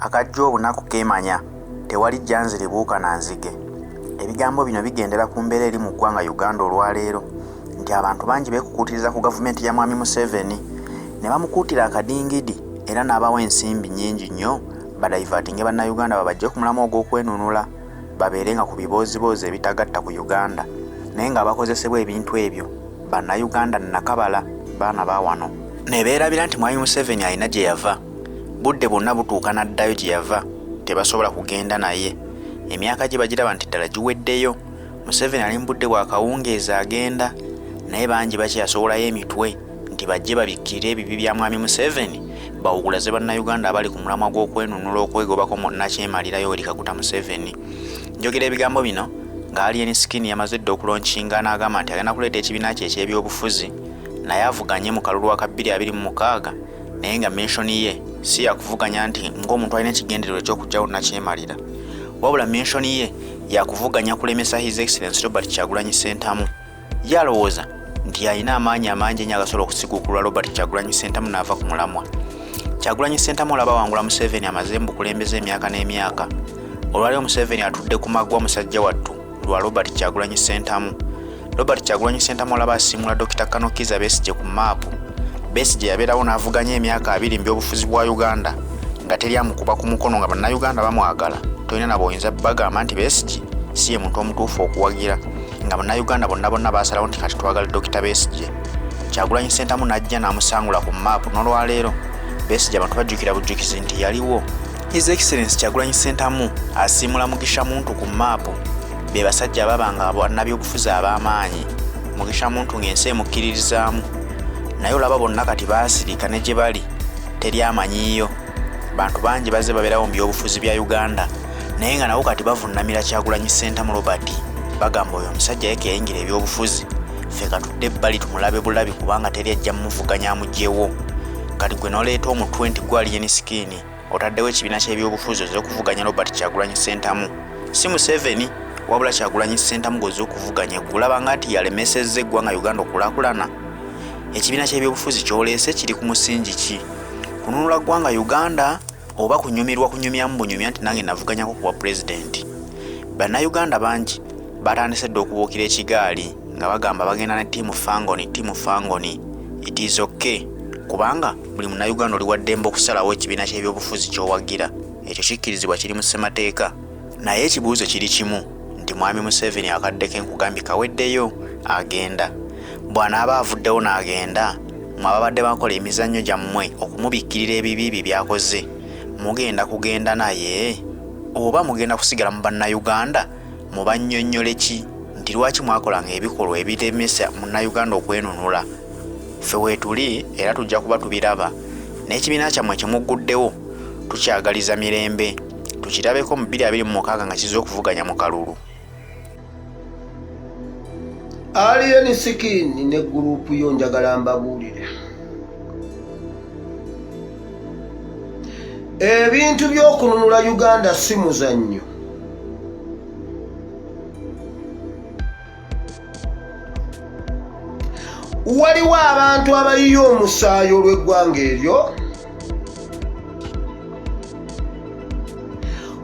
Akajja obunaku keemanya, tewali jjanziribuuka na nzige. Ebigambo bino bigendera ku mbeera eri mu ggwanga Uganda olwaleero nti abantu bangi beekukuutiriza ku gavumenti ya Mwami Museveni ne bamukuutira akadingidi era n'abawa ensimbi nnyingi nnyo badaivatinge Bannayuganda babajje ku mulamwa ogw'okwenunula babeere nga ku bibooziboozi ebitagatta ku Uganda naye ng'abakozesebwa ebintu ebyo Bannayuganda nnakabala baana ba wano ne beerabira nti Mwami Museveni alina gye yava. budde bwonna butuuka n'addayo gye yava tebasobola kugenda naye emyaka gye bagiraba nti ddala giweddeyo museveni ali mu budde bwa kawungeezi agenda naye bangi bakyeyasowolayo emitwe nti bajje babikkirire ebibi bya mwami museveni bawugulaze bannayuganda abali ku mulamwa gw'okwenunula okwegobako mu nakyemalirayo eri kaguta museveni njogera ebigambo bino nga alien skin yamaze dda okulonkinga n'agamba nti agenda kuleeta ekibiina kye eky'ebyobufuzi naye avuganye mu kalulu wa ka 226 naye nga menshoni ye si yakuvuganya nti ng'omuntu alina ekigendererwa ekyokujjawo nakyemalira wabula menshoni ye yakuvuganya kulemesa his excellence robert kyagulanyi sentamu ye alowooza nti alina amaanyi amangi enyo agasobola okusiguukulwa robert kyagulanyi sentamu naava ku mulamwa kyagulanyi sentamu olaba wangula museveni amaze mu bukulembeza emyaka n'emyaka olwali omuseveni atudde ku magwa musajja wattu lwa Robert Kyagulanyi Ssentamu. Robert Kyagulanyi Ssentamu olaba asiimula Dokita Kano Kizza Besigye ku maapu. Besigye yabeerawo n'avuganya emyaka abiri mu byobufuzi bwa Uganda nga teri amukuba ku mukono nga bannayuganda bamwagala tolina nabo oyinza bagamba nti Besigye si ye muntu omutuufu okuwagira nga bannayuganda bonna bonna baasalawo nti kati twagala Dokita Besigye. Kyagulanyi Ssentamu n'ajja n'amusangula ku maapu n'olwaleero Besigye abantu bajjukira bujjukizi nti yaliwo His Excellency Kyagulanyi Ssentamu asiimula Mugisha Muntu ku maapu be basajja ababa nga bannabyobufuzi ab'amaanyi Mugisha Muntu ng'ensi emukkiririzaamu naye olaba bonna kati baasirika ne gye bali teri amanyiiyo bantu bangi bazze babeerawo mu byobufuzi bya Uganda naye nga nabo kati bavunnamira Kyagulanyi Ssentamu Robert bagamba oyo omusajja yekeyingira ebyobufuzi ffe katudde ebbali tumulabe bulabi kubanga teri ajja mumuvuganya amugyewo kati gwe noleeta omutwe nti gwali yeni sikiini otaddewo ekibiina ky'ebyobufuzi oze okuvuganya robert kyagulanyi sentamu si museveni wabula kyagulanyi sentamu goze okuvuganya gulabanga nti yalemesezza eggwanga uganda okulakulana ekibiina ky'ebyobufuzi kyoleese kiri ku musingi ki kununula ggwanga uganda oba kunyumirwa kunyumyamu bunyumya nti nange navuganyako kuwa pulezidenti bannayuganda bangi batandise dda okubuukira ekigaali nga bagamba bagenda ne tiimu fangoni tiimu fangoni it is okay kubanga buli munnayuganda oli waddembe okusalawo ekibiina ky'ebyobufuzi ky'owagira ekyo kikkirizibwa kiri mu ssemateeka naye ekibuuzo kiri kimu nti mwami museveni akadde ke nkugambye kaweddeyo agenda bw'anaaba avuddewo n'agenda mwe ababadde bakola emizannyo gyammwe okumubikkirira ebibi bye byakoze mugenda kugenda naye oba mugenda kusigala mu bannayuganda mubannyonnyole ki nti lwaki mwakolanga ebikolwa ebiremesa munnayuganda okwenunula ffe weetuli era tujja kuba tubiraba n'ekibiina kyammwe kyemugguddewo tukyagaliza mirembe tukirabeko mu 226 nga kizza okuvuganya mu kalulu alien sikini ne gurupu yo njagala mbabuulire ebintu by'okununula uganda si muzannyo waliwo abantu abayiye omusaayi olw'eggwanga eryo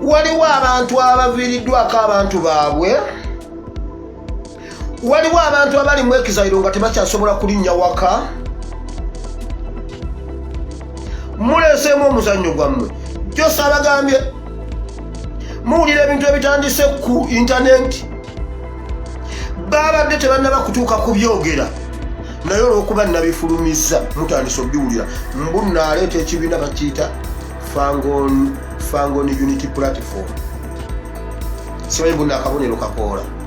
waliwo abantu abaviiriddwako abantu baabwe waliwo abantu abali mu ekizayiro nga tebakyasobola kulinnya waka muleeseemu omuzannyo gwammwe josa abagambye muwulira ebintu ebitandise ku intanenti baabadde tebannaba kutuuka ku byogera naye olwokuba nabifulumizza mutandise obiwulira mbu naaleeta ekibiina bakiyita fangon unity platform simanyi mbu naakabonero kakoola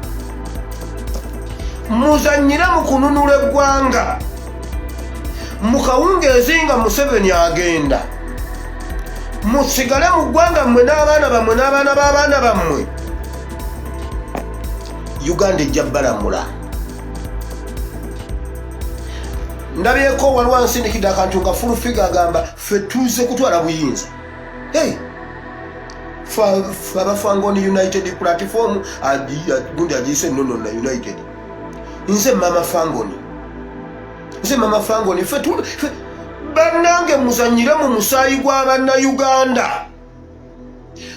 muzanyire mu kununula eggwanga mu kawungeezi nga museveni agenda musigale mu ggwanga mmwe n'abaana bammwe n'abaana b'abaana bammwe uganda ejja balamula ndabyeko waliwo ansindikidde akantu nga fulufiga agamba fe tuze kutwala buyinza hey abafanga on united platform gundi agiise nono na united nze mama fangoni nze mama fangoni fe bannange muzanyire mu musaayi gwa bannayuganda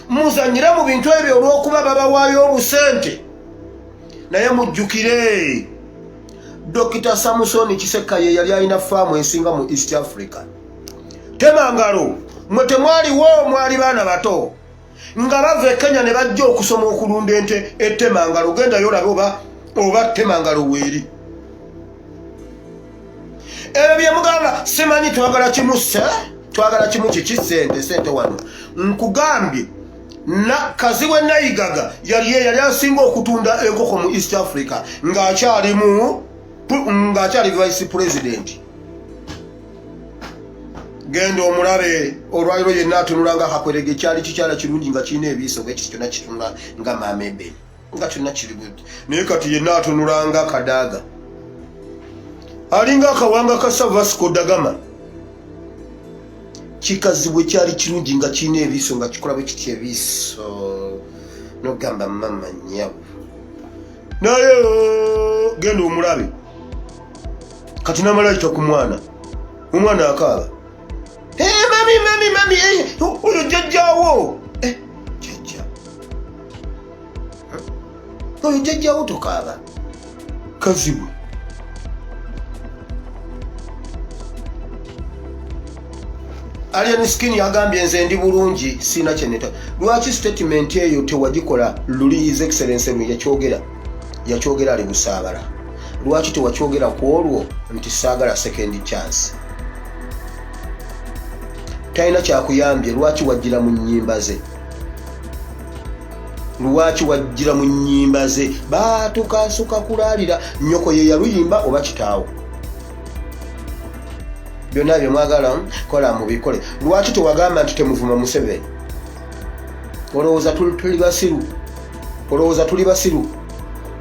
muzanyire mu bintu ebyo olw'okuba babawaayo obusente naye mujjukire dokita samusoni kisekka ye yali alina faamu ensinga mu east africa tema ngalo mwe temwaliwo mwali baana bato nga bava e kenya ne bajja okusoma okulunda ente etema ngalo gendayo olabe oba oba tema ngalo weeri ebyo byemugamba simanyi twagala kimu se twagala kimu kiki sente sente wano nkugambye kazi we nayigaga yali eyali asinga okutunda enkoko mu east africa ng'akyalimu ng'akyali vice president genda omulabe olwaliro yenna atunula nga kakwerega ekyali kikyala kirungi nga kirina ebiiso bwe kiti kyonna kitunula nga mamebe nga kyonna kiri bwe naye kati yenna atunula nga kadaaga alinga akawanga ka savasco dagama kikazibwe kyali kirungi nga kirina ebiiso nga kikola bwe kiti ebiiso nogamba mama nyabo naye oh, genda omulabe kati namala ayita ku mwana omwana akaaba mami mami mami oyo jajjawo jajja oyo jajjawo tokaaba kazibu Alien Skin yagambye nze ndi bulungi sina kyeneta. Lwaki statement eyo tewagikola luli His Excellency lwe yakyogera? yakyogera ali busaabala lwaki tewakyogera ku olwo nti saagala second chance talina kyakuyambye lwaki wajjira mu nyimba ze lwaki wajjira mu nyimba ze batukasuka kulaalira nyoko ye yaluyimba oba kitaawo byonna byemwagala kola mubikole lwaki tewagamba nti temuvuma museveni olowooza tuli basiru olowooza tuli basiru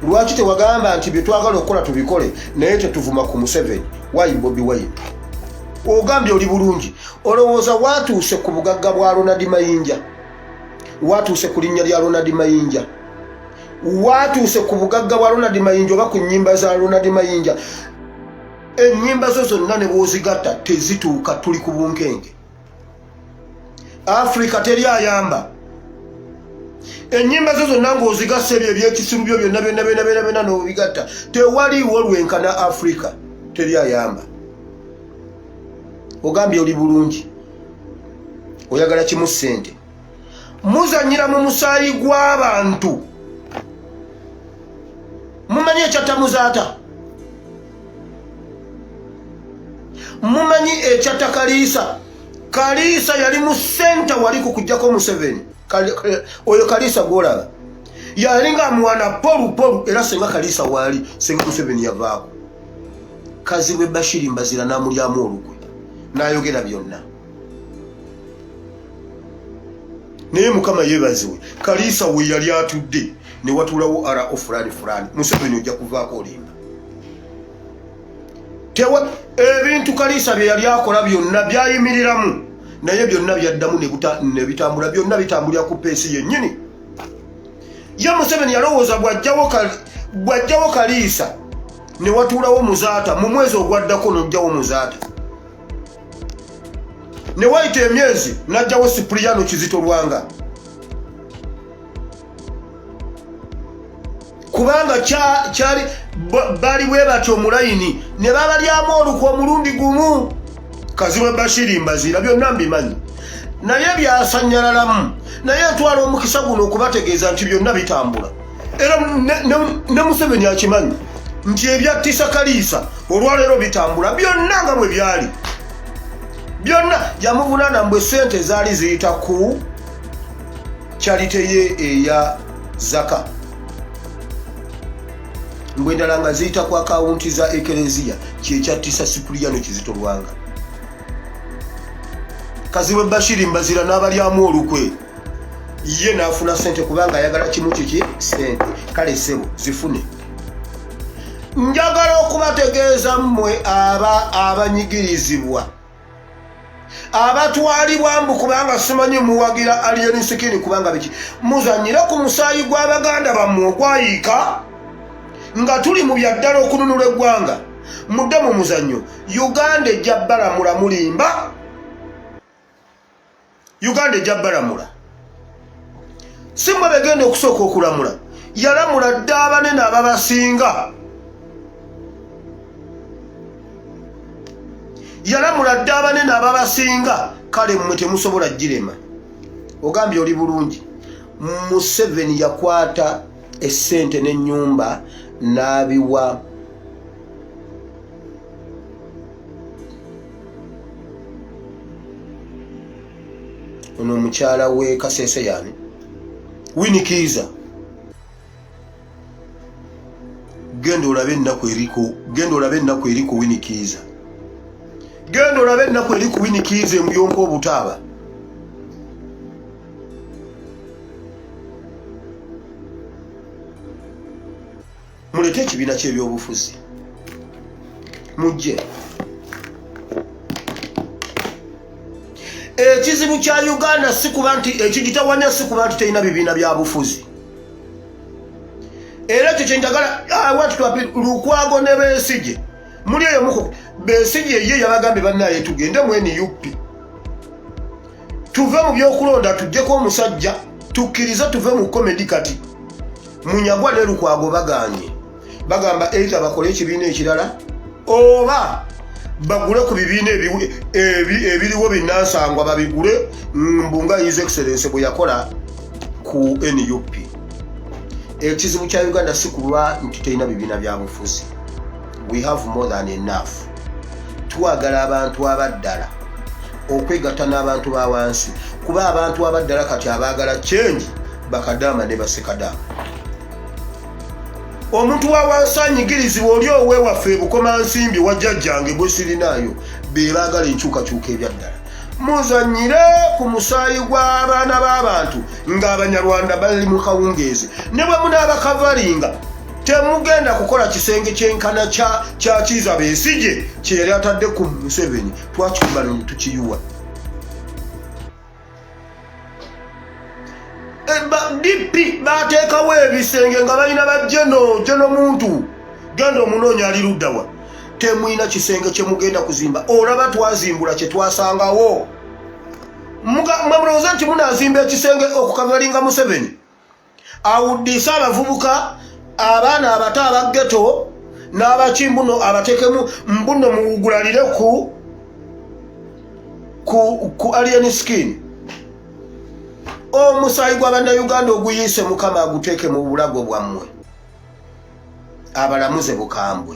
lwaki tewagamba nti byetwagala okukola tubikole naye tetuvuma ku museveni wayi bobi wayini ogambye oli bulungi olowooza watuuse ku bugagga bwa ronald mayinja watuuse ku linnya lya ronald mayinja watuuse ku bugagga bwa ronald mayinja oba ku nyimba za ronald mayinja enyimba zo zonna ne bwozigatta tezituuka tuli ku bunkenge afrika teri ayamba enyimba zo zonna ngaozigasa ebyo ebyekisimu byo byonna byonna byona byona byona nobigatta tewaliwo lwenkana afrika teri ayamba ogambye oli bulungi oyagala kimu sente muzanyira mu musaayi gw'abantu mumanyi ekyattamuzaata mumanyi ekyatta kaliisa kaliisa yali mu senta wali ku kujjako museveni oyo kaliisa gwolaba yali nga mwana polupolu era senga kaliisa waali senga museveni yavaako kazibwe bashiri mbazira namulyamu olukwe nayogera byonna naye mukama yebaziwe kaliisa we yali atudde ne watulawo ara o fulani fulani museveni ojja kuvaako olimba tewa ebintu kaliisa bye yali akola byonna byayimiriramu naye byonna byaddamu nebitambula byonna bitambulira ku peesi yennyini ye museveni yalowooza bwajjawo kaliisa ne watuulawo muzaata mu mwezi ogwaddako nojjawo muzaata ne wayita emyezi n'ajjawo sipuliyano kizito lwanga kubanga kyali bali bwe batyo mulayini ne babalyamu olukwa omulundi gumu kazibwe bashiri mbaziira byonna mbimanyi naye byasanyalalamu naye ntwala omukisa guno okubategeeza nti byonna bitambula era ne museveni akimanyi nti ebyattisa kaliisa olwaleero bitambula byonna nga bwe byali byonna yamuvunana mbwe sente ezaali ziyita ku kyalite ye eya zaka mbwe endala nga ziyita ku akawunti za ekereziya kyekyattisa sipuliyano kizito lwanga kazibwe bashiri mbazira n'abalyamu olukwe ye nafuna sente kubanga ayagala kimu kiki sente kale sebo zifune njagala okubategeeza mmwe aba abanyigirizibwa abatwalibwa mbu kubanga simanyi muwagira alien sikini kubanga biki muzanyire ku musaayi gw'abaganda bammwe ogwayiika nga tuli mu byaddala okununula eggwanga mudde mu muzannyo uganda ejja balamula mulimba uganda ejja balamula simwe begenda okusooka okulamula yalamula dda abanene ababasinga yalamula dda abanene ababasinga kale mmwe temusobola girema ogambye oli bulungi museveni yakwata esente n'enyumba n'abiwa ono omukyala we kasese yani winikiiza genda olabe ennaku eriko genda olabe ennaku eri ku winikiiza genda olabe ennaku eri ku winikiiza emuyonka obutaaba muleke ekibiina ky'ebyobufuzi mujje ekizibu kya uganda si kuba nti ekigitawanya si kuba nti terina bibiina bya bufuzi era ekyo kyenjagala ah, watutwapi lukwago ne besigye muli eyo muku besigye ye yabagambye banaye tugende mwene yupi tuve mu byokulonda tujjeko omusajja tukkirize tuve mu komedi kati munyagwa ne lukwago baganye bagamba eita bakole ekibiina ekirala oba bagule ku bibiina ebiriwo binansangwa babigule mbunga his excellence bwe yakola ku nup ekizibu kya uganda si kulwa nti terina bibiina byabufuzi we have more than enough twagala abantu abaddala okwegatta n'abantu ba wansi kuba abantu abaddala kati abaagala change bakadaama ne basekadaama omuntu wa wansi anyigirizibwa oli owewaffe ebukoma nsimbi wajjajjange gwe sirinaayo be baagala enkyukakyuka ebyaddala muzanyire ku musaayi gw'abaana b'abantu ng'abanyarwanda bali mu kawungeezi ne bwe munaabakavalinga temugenda kukola kisenge kyenkana kya kiza besije kyeyali atadde ku museveni twakikumbana netukiyuwa dp bateekawo ebisenge nga balina bajeno jeno muntu genda omunoonya ali luddawa temulina kisenge kyemugenda kuzimba olaba twazimbula kyetwasangawo mwemulowoza nti munazimba ekisenge okukavalinga museveni awuddiise abavubuka abaana abato abaggeto n'abaki mbuno abatekemu mbuno muwugulalire ku ku ku alien skin omusaayi gwa bannayuganda oguyiise mukama aguteeke mu bulago bwammwe abalamuze bukambwe